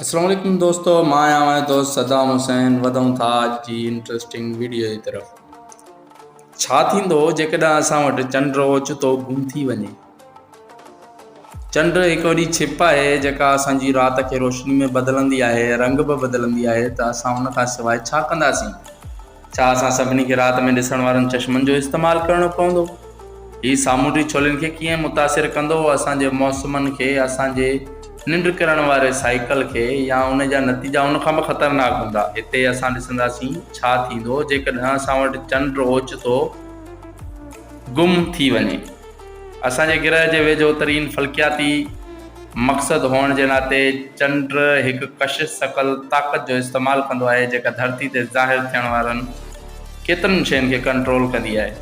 السلام عليڪم دوستو مان آهيان اوهان جو دوست صدام حسين وڌون ٿا اڄ جي انٽرسٽنگ ويڊيو جي طرف ڇا ٿيندو جيڪڏهن اسان وٽ چنڊ اوچتو گم ٿي وڃي چنڊ هڪ وڏي ڇپ آهي جيڪا اسان جي رات کي روشني ۾ بدلندي آهي رنگ به بدلندي آهي ته اسان ان کان سواء ڇا ڪنداسين ڇا اسان سڀني کي رات ۾ ڏسڻ وارن چشمن جو استعمال ڪرڻو پوندو؟ هي سامونڊي ڇولين کي ڪيئن متاثر ڪندو، اسان جي موسمن کي، اسان جي ننڊ ڪرڻ واري سائيڪل کي يا ان جا نتيجا ان کان به خطرناڪ هوندا؟ هتي اسان ڏسنداسين ڇا ٿيندو جيڪڏهن اسان وٽ چنڊ اوچتو گم ٿي وڃي. اسان جي گرهه جي ويجهو ترين فلڪياتي مقصد هئڻ جي ناتي چنڊ هڪ ڪشش ثقل طاقت جو استعمال ڪندو آهي جيڪا ڌرتي تي ظاهر ٿيڻ وارن ڪيترن شين کي ڪنٽرول ڪندي آهي.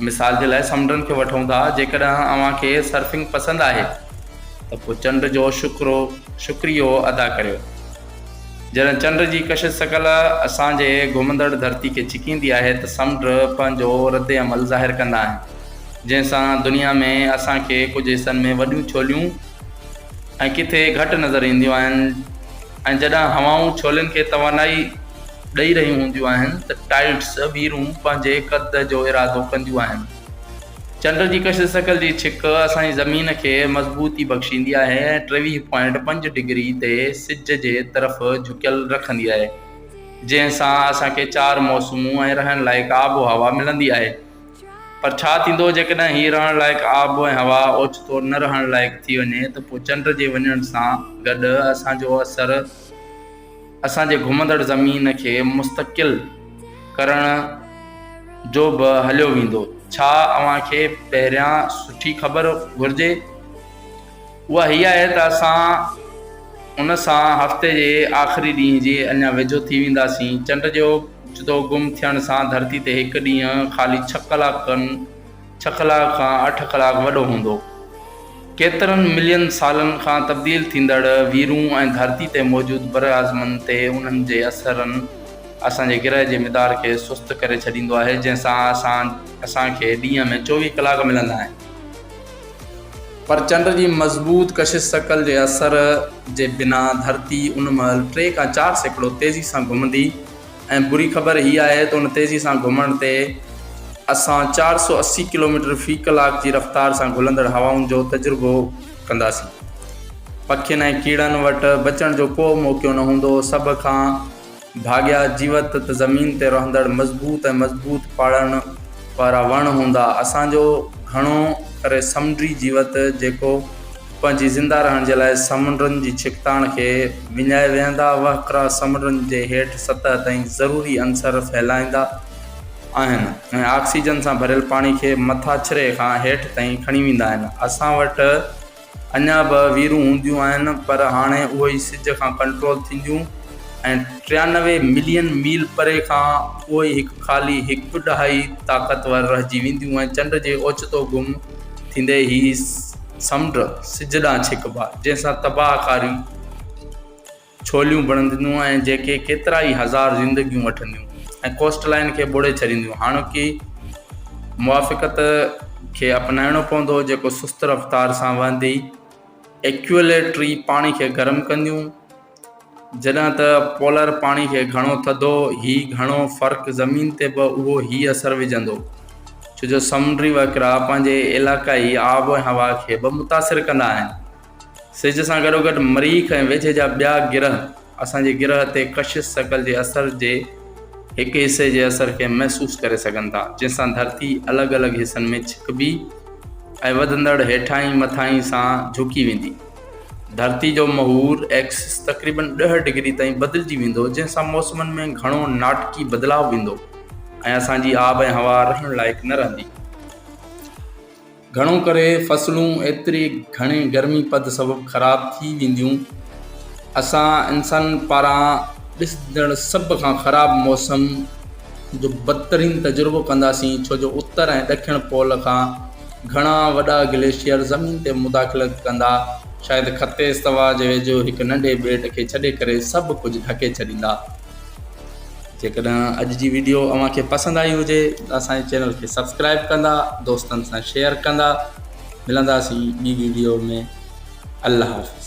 مثال جي لاء سمنڊن کي وٺون ٿا جيڪڏهن اوهان کي سرفنگ پسند آهي ته پوء چنڊ جو شڪرو شڪريو ادا ڪريو. جڏهن چنڊ جي ڪشش ثقل اسان جي گهمندڙ ڌرتي کي ڇڪيندي آهي ته سمنڊ پنهنجو رد عمل ظاهر ڪندا آهن. جنهن سان دنيا ۾ اسان کي ڪجهه حصن ۾ وڏيون ڇوليون ۽ ڪٿي گهٽ نظر اينديون آهن ۽ جڏهن هوائون ڇولين کي توانائي ڏئي رهيون هونديون آهن ته ٽائيڊس، ويرون، پنهنجي قد جو ارادو ڪنديون آهن. چنڊ جي ڪشش شڪل جي ڇڪ اسان جي زمين کي مضبوطي بخشيندي آهي ۽ ٽيويهه پوائنٽ پنج ڊگري تي سج جي طرف جهڪيل رکندي آهي، جنهن سان اسان کي چار موسمون ۽ رهڻ لائق آب و هوا ملندي آهي. پر ڇا ٿيندو جيڪڏهن هي رهڻ لائق آب ۽ هوا اوچتو نه رهڻ لائق ٿي وڃي ته پوء چنڊ جي وڃڻ سان گڏ اسان جو اثر اسان جي گهمندڙ زمين کي مستقل ڪرڻ جو به هليو ويندو ڇا اوهان کي پهريان سٺي خبر گهرجي اها هيء آهي ته اسان ان سان هفتي جي آخري ڏينهن جي اڃا ويجهو ٿي وينداسين. چنڊ جو اچتو گم ٿيڻ سان ڌرتي تي هڪ ڏينهن خالي ڇهه ڪلاڪن، ڇهه ڪلاڪ کان اٺ ڪلاڪ، وڏو هوندو. ڪيترن ملين سالن کان تبديل ٿيندڙ ويرون ۽ ڌرتي تي موجود براعظمن تي انهن جي اثرن اسان جي گرهه جي مدار کي سست ڪري ڇڏيندو آهي، جنهن سان اسان کي ڏينهن ۾ چوويهه ڪلاڪ ملندا آهن. پر چنڊ جي مضبوط ڪشش ثقل جي اثر جي بنا ڌرتي ان مهل ٽي کان چار سيڪڙو تيزي سان گهمندي ۽ بري خبر هي آهي ته ان تيزي سان گهمڻ تي اسان چار سؤ اسي ڪلوميٽر في ڪلاڪ جي رفتار سان گهلندڙ هوائن جو تجربو ڪنداسين. پکين ۽ ڪيڙن وٽ بچڻ جو ڪو موقعو نه هوندو. سڀ کان. ڀاڳيا جيوت ته زمين تي رهندڙ مضبوط ۽ مضبوط پاڙن وارا وڻ هوندا. اسان جو گهڻو ڪري سمنڊي جيوت جيڪو پنهنجي زنده رهڻ جي لاء سمنڊن جي ڇڪتاڻ کي وڃائي ويهندا وهڪرا سمنڊن جي هيٺ سطح تائين ضروري عنصر ڦهلائيندا آهن ۽ آڪسيجن سان ڀريل پاڻي کي مٿاڇري کان هيٺ تائين کڻي ويندا آهن. اسان وٽ اڃا به ويرون هونديون آهن پر هاڻي اهي ئي سج کان ڪنٽرول ٿينديون ۽ ٽيانوي ملين ميل پري کان اهي ئي هڪ خالي هڪ ڏهائي طاقتور رهجي وينديون ۽ چنڊ جي اوچتو گم ٿيندي هي سمنڊ سج ڏانهن ڇڪبا جنهن سان تباهه ڪاري ڇوليون بڻنديون ۽ جيڪي ڪيترا ئي هزار زندگيون وٺنديون ۽ ڪوسٽ لائين کي ٻوڙي ڇڏينديون هاڻوڪي موافقت کي اپنائڻو پوندو جيڪو سست رفتار سان وهندي ايڪيوليٽري پاڻي کي گرم ڪنديون جڏهن ته پولر پاڻي کي گهڻو ٿڌو هي گهڻو فرق زمين تي به اهو هي اثر وجهندو ڇو جو سمنڊي وهڪرا پنهنجي علائقائي آب ۽ هوا کي به متاثر ڪندا آهن. سج سان گڏوگڏ مريخ ۽ ويجهي جا ٻيا گرهه اسان جي گرهه تي ڪشش ثقل جي اثر جي هڪ حصي جي اثر کي محسوس ڪري سگهن ٿا، جنهن سان ڌرتي الڳ الڳ حصن ۾ ڇڪبي ۽ وڌندڙ هيٺاهين مٿاهين سان جهڪي ويندي. ڌرتي جو محور، Axis، تقريبن ڏهه ڊگري تائين بدلجي ويندو، جنهن سان موسمن ۾ گهڻو ناٽڪي بدلاء ويندو ۽ اسان جي آب ۽ هوا رهڻ لائق نه رهندي. گهڻو ڪري فصلون ايتري گهڻي گرمي پد سبب خراب ٿي وينديون. اسان انسانن پاران ڏسجندڙ سڀ کان خراب موسم جو بدترين تجربو ڪنداسين ڇو جو اتر ۽ ڏکڻ پول کان گهڻا وڏا گليشيئر زمين تي مداخلت ڪندا شايد خط استوا جي ويجهو هڪ ننڍي ٻيٽ کي ڇڏي ڪري سڀ ڪجهه ڍڪي ڇڏيندا. جيڪڏهن اڄ جي ويڊيو اوهان کي پسند آئي هجي ته اسان جي چينل کي سبسڪرائيب ڪندا دوستن سان شيئر ڪندا ملنداسين ٻي ويڊيو ۾ الله حافظ